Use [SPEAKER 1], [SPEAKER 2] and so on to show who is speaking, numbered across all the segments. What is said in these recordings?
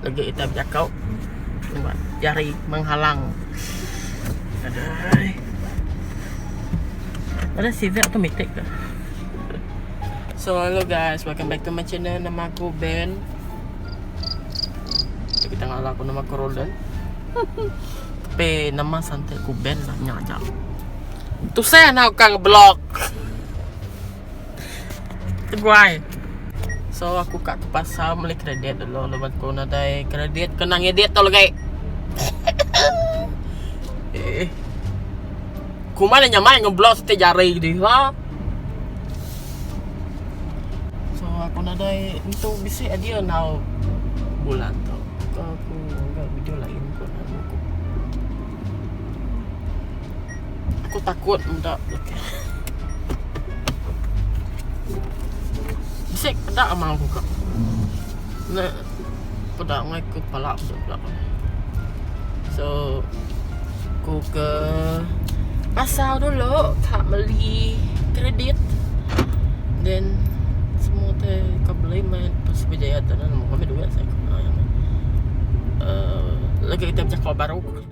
[SPEAKER 1] Lagi kita bejakau Nampak jari menghalang Adai Ada seatbelt tu mitik ke So hello guys Welcome back to my channel Nama aku Ben Jadi kita ngalah aku nama aku Roland Tapi nama santai aku Ben lah Nyak ajak Tu saya nak kang blog Teguai. So aku ka ke pasar meli kredit dulu laban aku nadai kredit kena ngedit tau legi. Eh. Kuma nya nyamai ngeblos ti jari diha. So aku nadai entu bisi idea enggau bulan tu. Aku video lain ku. Aku takut muda lelaki. Bisik peda amang aku kak. Ne peda ngai ku pala aku peda. So aku ke pasar dulu kak beli kredit. Then semua tu kak beli mai terus berjaya tu nemu kami duit saya. Uh, lagi kita berjaku baru.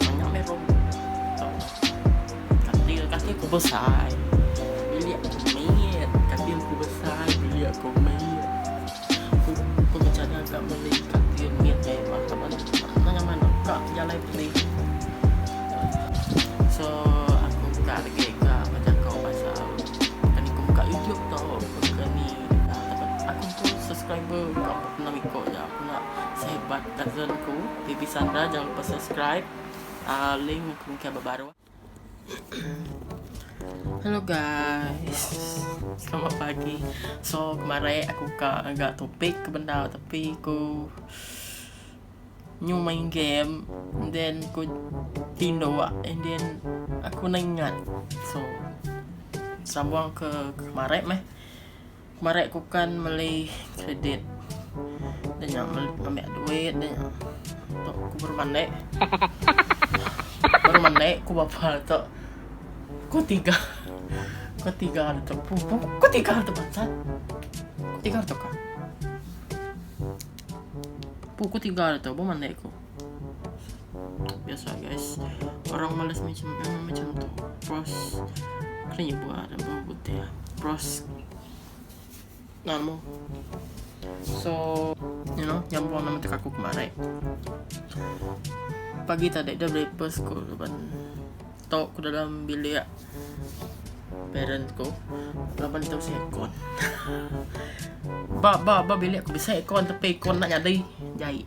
[SPEAKER 1] Banyak meh rambut tau dah. Katil katil ku besai bilik ku mit. Katil ku besai bilik ku mit. Ku ku bejana ka meli katil mit mewah laban mana ngan mana ka jalai beli. So aku buka lagi ka bejako pasal kani ku buka youtube tau kani aku ku subscriber ka empat enam iko aja aku enda sehebat Ka zone aku TV Sandra jangan lupa subscribe link aku mungkin aba baru. Hello guys. Selamat pagi. So kemarin aku ka agak topik ke benda tapi aku nyu main game and then aku tindo and then aku nang ingat. So sambung ke kemarin meh. Marai ku kan meli kredit. Dah nya ambil duit dah nya. Tu ku baru mandi. Baru mandi ku bapa tu. Ku tiga. Ku tiga dah tu. Ku tiga dah tu bansa. Ku tiga dah tu ka. Pukul tiga dah tu baru mandi ku. biasa guys orang malas macam eh, macam tu pros kena buat apa putih ya. pros namo so you know nyambung nama tek aku kemarin pagi tadi dah breakfast ko depan tok ke dalam bilik parent ko laban tu saya kon ba ba ba bilik aku bisa ikon tapi ikon nak jadi jahit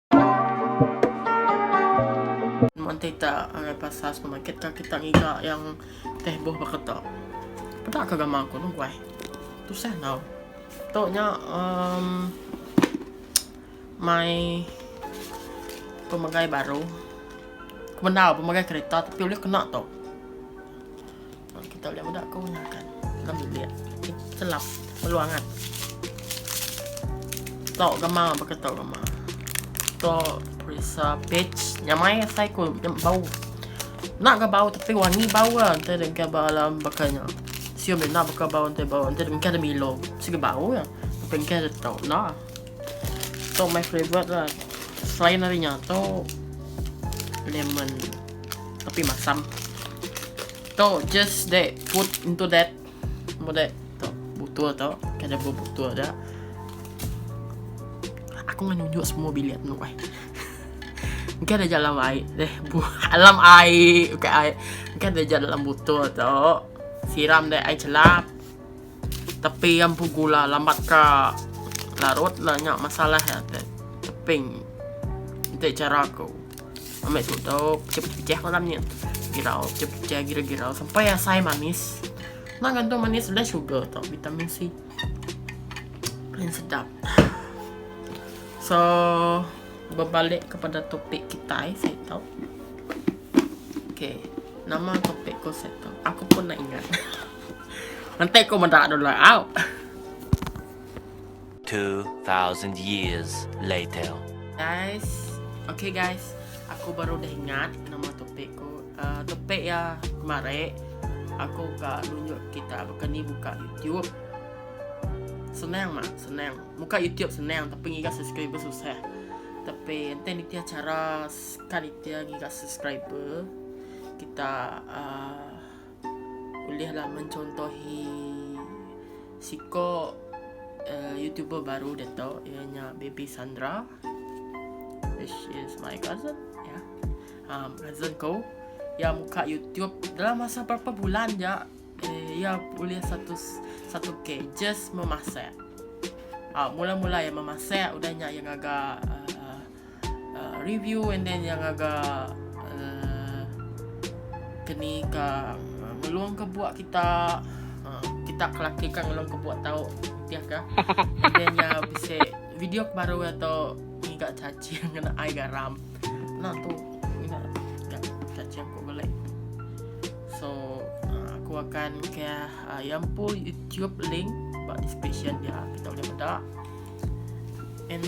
[SPEAKER 1] Monte ta angai pasal supermarket ka kita ngiga yang teh boh baka ta. Peda ka gambar aku tu guai. Tusah tau. Tu nya um, my pemegai baru. Kemendau pemegai kereta tapi ulih kena tu. Kita ulih meda ke undang kan dalam bilik. Selap perlu angat. Tok gama baka tok gama. Tok perisa bitch nyamai asai ku bau. Nak ga bau tapi wangi bau ga ente dengka ba alam bakanya. Sium dia nak baka bau ente bau ente dengka ada milo. Sigi bau ya. Tapi engka ada tok nah. Tok my favorite lah. Selain darinya tok lemon. Tapi masam. Tu just they put into that mode tu butul tu kada bebutul dah. Aku ngan nunjuk semua bilik tu ai. Engkau ada dalam air deh. Dalam air. Bukan air. Engkau ada dalam botol tu. Siram deh air celap. Tepi iya empu gula lambat ka larut enda nya masalah iya te teping enti chara aku ambi tutup pejah-pejah malam nya girau pejah-pejah girau-girau sampai asai manis enda gantung manis udah sugar tu vitamin C paling sedap so berbalik kepada topik kita saya tahu okay nama topik ko saya tahu aku pun nak ingat Enti ku meda dulu au. 2000
[SPEAKER 2] years later. Guys,
[SPEAKER 1] okay guys, aku baru dah ingat nama topik ku. Uh, topik ya kemari aku ka nunjuk kita baka ni buka YouTube. Senang mak, senang. Buka YouTube senang tapi ngiga subscriber susah. Tapi ente ni tiada cara sekali tiada ngiga subscriber. Kita uh, Ulihlah mencontohi siko youtuber baru ditu iya nya Baby Sandra which is my cousin ya. Um, cousin ko iya muka YouTube dalam masa berapa bulan ja eh, iya ulih satu satu k just memasak. Ah, mula-mula iya memasak udah nya iya ngaga uh, uh, review and then yang agak uh, kini ka uh, ngelung ke buat kita uh, kita kelaki kan ngelung ke buat tahu dia kan and then ya bisa video baru atau enggak caci yang kena air garam nak tu nak enggak caci aku boleh so uh, aku akan ke uh, yang pun YouTube link buat description dia kita boleh benda and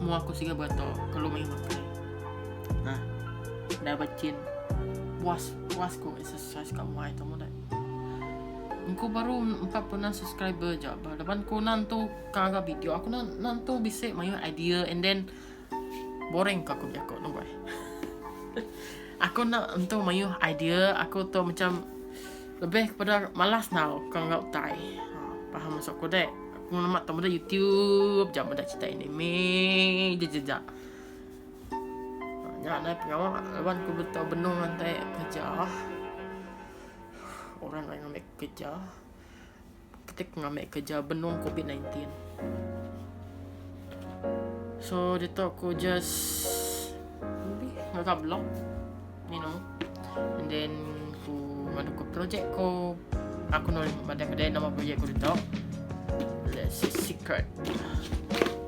[SPEAKER 1] Mu aku siga berato kelu mih makai. Nah. Dah bachin. Puas puas ku exercise ka umai tu mudai. Engku baru 46 subscriber ja ba. Laban ku nan tu ka ga video aku nan nan tu bisi mayuh idea and then boring ka aku bejako tu bai. aku nak entu mayuh idea aku tu macam Lebih kepada malas enggau ke enggau utai. Paham maksud aku dek? Aku nama tamu dah YouTube jam dah cerita ini. Me je je je. Ya, naik pengawa lawan ku betul benung nanti kerja. Orang lain ambil kerja. ketik ngambi kerja benung covid nineteen so ditu aku just lebih ngaga blog you know and then ku ngadu ke projek ku aku nulis pada kedai nama projek ku ditu let's say secret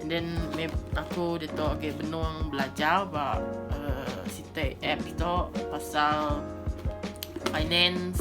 [SPEAKER 1] and then maybe aku ditu okay benung belajar ba uh, sitai app ditu pasal finance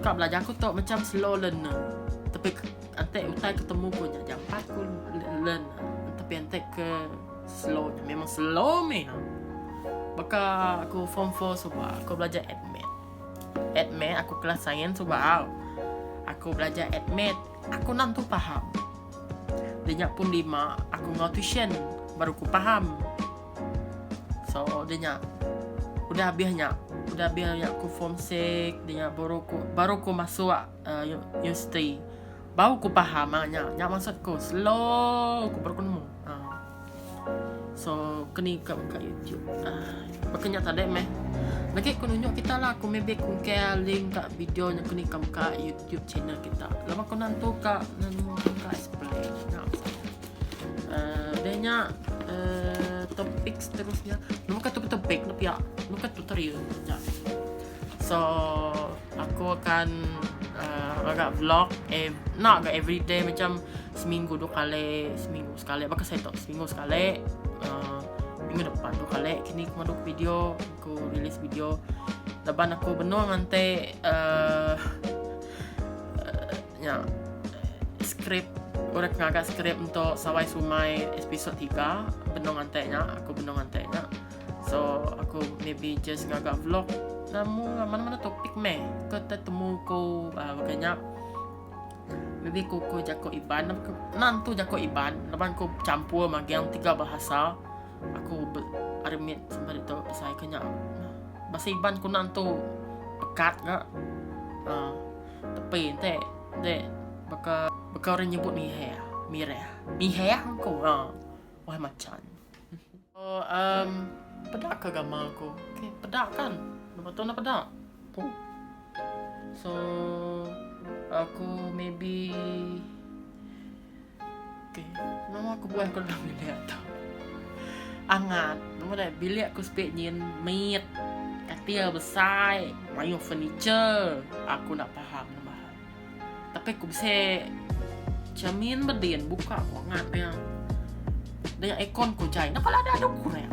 [SPEAKER 1] Ka belajar aku tok macam slow learner. Tapi antek utai ketemu ku nya jampat ku learn. Tapi antek ke slow memang slow meh. Baka aku form 4 suba aku belajar admit. Admit aku kelas sains suba. Aku belajar admit. Aku nan tu faham. Dinya pun lima aku ngau tuition baru ku faham. So dia nya udah habis nya. Udah habis nya ku form 6 dia nya baru ku baru ku masuk uh, universiti. Baru ku faham ah nya. Nya maksud ku slow ku baru ku nemu. Uh. So kini ke buka YouTube. Uh. Makanya tadi meh. Lagi ku nunjuk kita lah ku maybe ku ke link ka video nya kini kam ka YouTube channel kita. Lama ku nantu ka nemu ka display. Nah. Uh, dia nya uh, topik seterusnya. Nama kata topik tu pia? Nama kata tutorial? Ya. So, aku akan uh, agak vlog eh nak agak everyday macam seminggu dua kali, seminggu sekali. Baka saya tak seminggu sekali. Uh, minggu depan dua kali kini aku maduk video, aku rilis video. Laban aku benung ngantai uh, Nya skrip orang ngaga skrip untuk Sawai Sumai episod 3 benung antek nya aku benung antek nya. So aku maybe just ngaga vlog namu lah, mana-mana topik meh ke temu ko uh, ah, nya maybe ko ko jako iban nan tu jako iban laban ko campur magang tiga bahasa aku armit sampai tu pasal kenya bahasa iban ko nan tu pekat ga uh, ah. Tepi enti enti baka baka orang nyebut miheh mireh. Miheh engku ha wai machan. Oh um peda ka gamal aku. Okay peda kan lepas tu ne peda. Oh so aku maybe. Okey. Nama kebuah ku dalam bilik tu? Angat. Nama deh bilik ku sepi nyin mit. Katil besai, mayuh furniture. Aku enda paham nama hal. Tapi ku bisi cermin bedin buka ku angat iya. Dengan aircon ku jai. Napa lada dok kurang.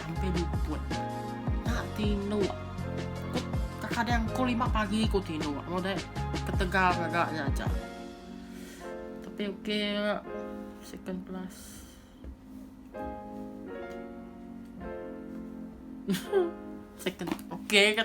[SPEAKER 1] Empai luput enda tinduk. Kekadang pukul lima pagi ku tinduk lalu deh ketegal ngaga nya aja. Tapi okey ga second class. second okey ga.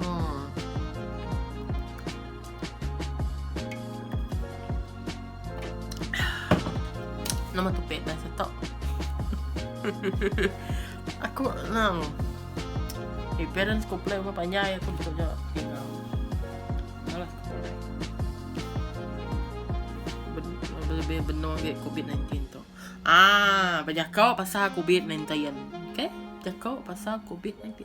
[SPEAKER 1] Haa. Nama tu pet dah setok. aku nang. Eh, parents ko play umah panjai aku betul je. Malas ko play. Lebih benar ke COVID-19 tu. Ah, banyak kau pasal COVID-19. Okay? Banyak kau pasal COVID-19.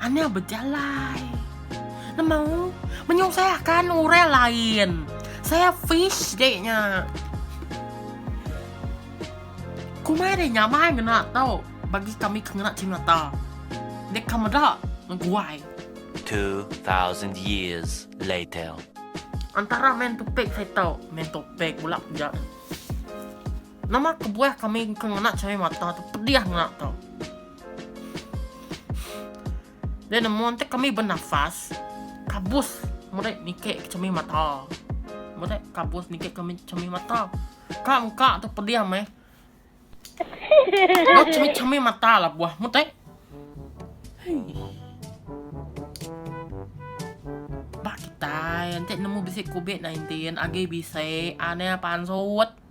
[SPEAKER 1] Ane bejalai. Nemau menyusahkan orang lain. Saya fish dek nya. Kumai dek nya mai ngena tau bagi kami ke ngena cimata. Dek ka meda ngeguai. 2000
[SPEAKER 2] years later. Antara
[SPEAKER 1] main topek saya tau. Main topek pula ja. Nama kebuah kami engka ngena chai mata tu pedih ngena tu. Dia nemu enti kami benafas kabus meri niki ke chemi mata. Meri kabus niki ke chemi mata. Ka engka tu pedih meh. Dok chemi chemi mata la buah meri. Ba kitai enti nemu bisi covid 19 agi bisi anang pansut.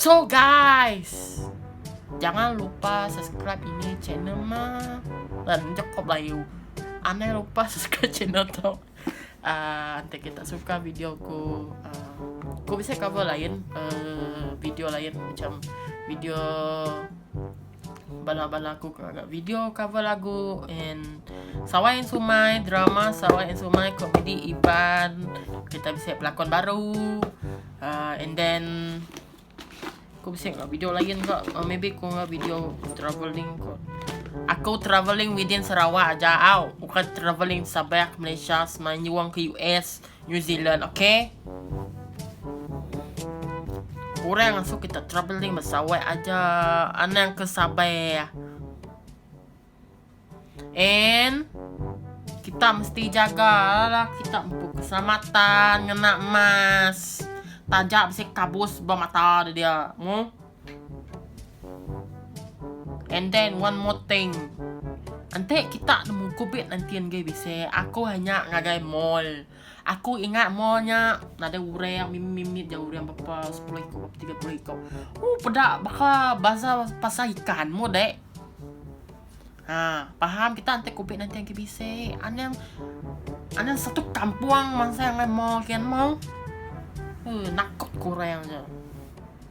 [SPEAKER 1] So guys. Jangan lupa subscribe ini channel ma. Dan joko belayu. Anai lupa subscribe channel tu. Uh, ante kita suka video ku uh, ku bisa cover lain uh, video lain macam video Bala-bala aku ke ngaga video cover lagu and Sarawai and Sumai, drama Sarawai and Sumai, komedi Iban, kita bisi pelakon baru. Uh, and then aku bisi ngaga video lain ke. Uh, maybe aku ngaga video travelling ke. Aku travelling within Sarawak aja au. Bukan travelling sabah Malaysia, semanjung ke US. New Zealand okay. Orang asuh kita travelling bersawai aja anang ke sabar. And kita mesti jaga lah kita empu keselamatan ngena mask. Taja bisi kabus ba mata dia. Mu. And then one more thing. Enti kita nemu kubit entin gai bisi, aku hanya ngagai mall. Aku ingat mall nya nadai orang mimit-mimit ja orang berapa sepuluh iku berapa tiga puluh iku. Oh peda baka bazar pasar ikan mu dek. Ha, paham kita enti kubit entin gai bisi. Anang anang satu kampung masa ngagai mall kian mau. Uh, nakut kurang je.